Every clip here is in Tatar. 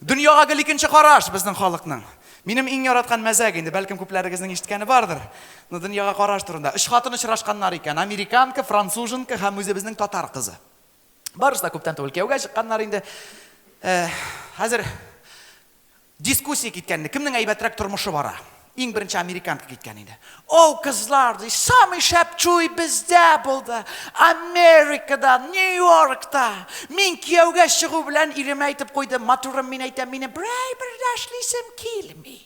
Дөньяга гел икенче караш безнең халыкның. Минем иң яраткан мәзәк инде, бәлкем күпләрегезнең ишеткәне бардыр. Ну, дөньяга караш турында. Өч хатын очрашканнар икән, американка, француженка һәм үзебезнең татар кызы. Барысы да күптән түгел кияүгә чыкканнар инде. Э, хәзер дискуссия киткәнне, кемнең әйбәтрәк тормышы бара. Иң беренче американка киткән инде. О, кызлар, ди, самый шәп чуй бездә булды. Америкада, Нью-Йоркта. Мин кияүгә чыгу белән иремә әйтеп куйдым, матурым, мин әйтәм, мине берәй бер дә эшлисем килми.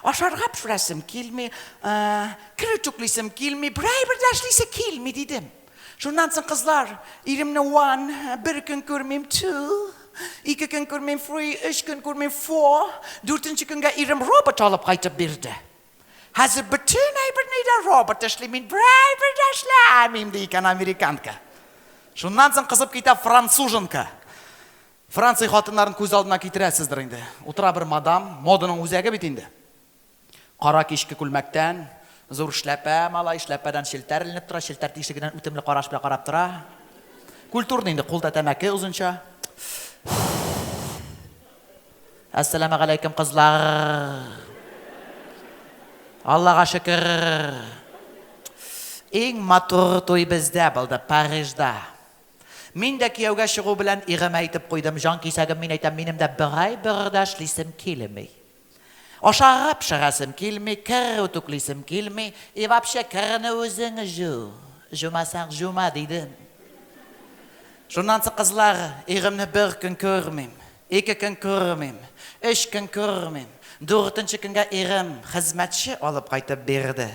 Ашарга пешерәсем килми, э, кер үтүклисем килми, берәй бер дә эшлисе килми, дидем. Шуннан соң кызлар, иремне one, бер көн күрмим two, ике көн күрмим three, өч көн күрмим four, дүртенче көнгә ирем робот алып кайтып бирде. Хәзер бөтен әйберне дә робот эшли, мин берәй бер дә эшләмим, ди икән американка. Шуннан соң кызып китә француженка. Франция хатыннарын күз алдына китерәсездер инде. Утыра бер мадам, моданың үзәге бит инде. Кара кичке күлмәктән, зур эшләпә, малай, эшләпәдән челтәр эленеп тора, челтәр тишегеннән үтемле караш белән карап тора. Культурный инде, кулда тәмәке озынча. Әссәламәгаләйкем, кызлар. Аллага шөкер. Иң матур туй бездә булды, Парижда. Мин дә кияүгә чыгу белән игемә әйтеп куйдым, җан кисәгем, мин әйтәм, минем дә бер ай бер дә эшлисем килми. Ашарга пешерәсем килми, кер үтүклисем килми, и вообще керне үзең җу, җумасаң җума, дидем. Шуннан соң кызлар, иремне бер көн күрмим, ике көн күрмим, өч көн күрмим, дүртенче көнгә ирем хезмәтче алып кайтып бирде.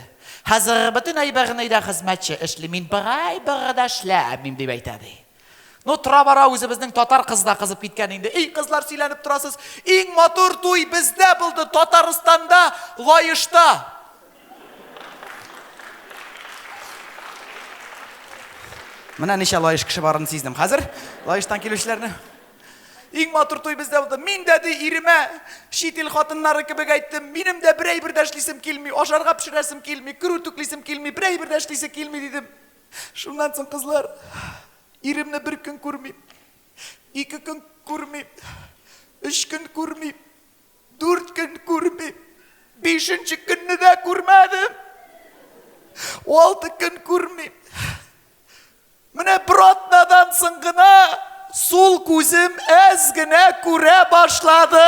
Хәзер бөтен әйберне өйдә хезмәтче эшли, мин бер әйбер дә эшләмим, дип әйтә, ди. Ну, тора-бара үзебезнең татар кызы да кызып киткән инде. Эй, кызлар сөйләнеп торасыз. Иң матур туй бездә булды, Татарстанда, Лаешта. Менә ничә лаеш кеше барын сиздем. Хәзер лаештан килүчеләрне Иң матур туй бездә булды. Мин дә ди иремә чит ил хатыннары кебек әйттем. Минем дә бер әйбер дә эшлисем килми, ашарга пешерәсем килми, кер үтүклисем килми, бер әйбер дә эшлисе килми дидем. Шуннан соң, кызлар, иремне бер көн күрмим, ике көн күрмим, өч көн күрмим, дүрт көн күрмим, бишенче көнне дә күрмәдем. Алты көн күрмим. Менә бер атнадан соң гына сул күзем әз генә күрә башлады.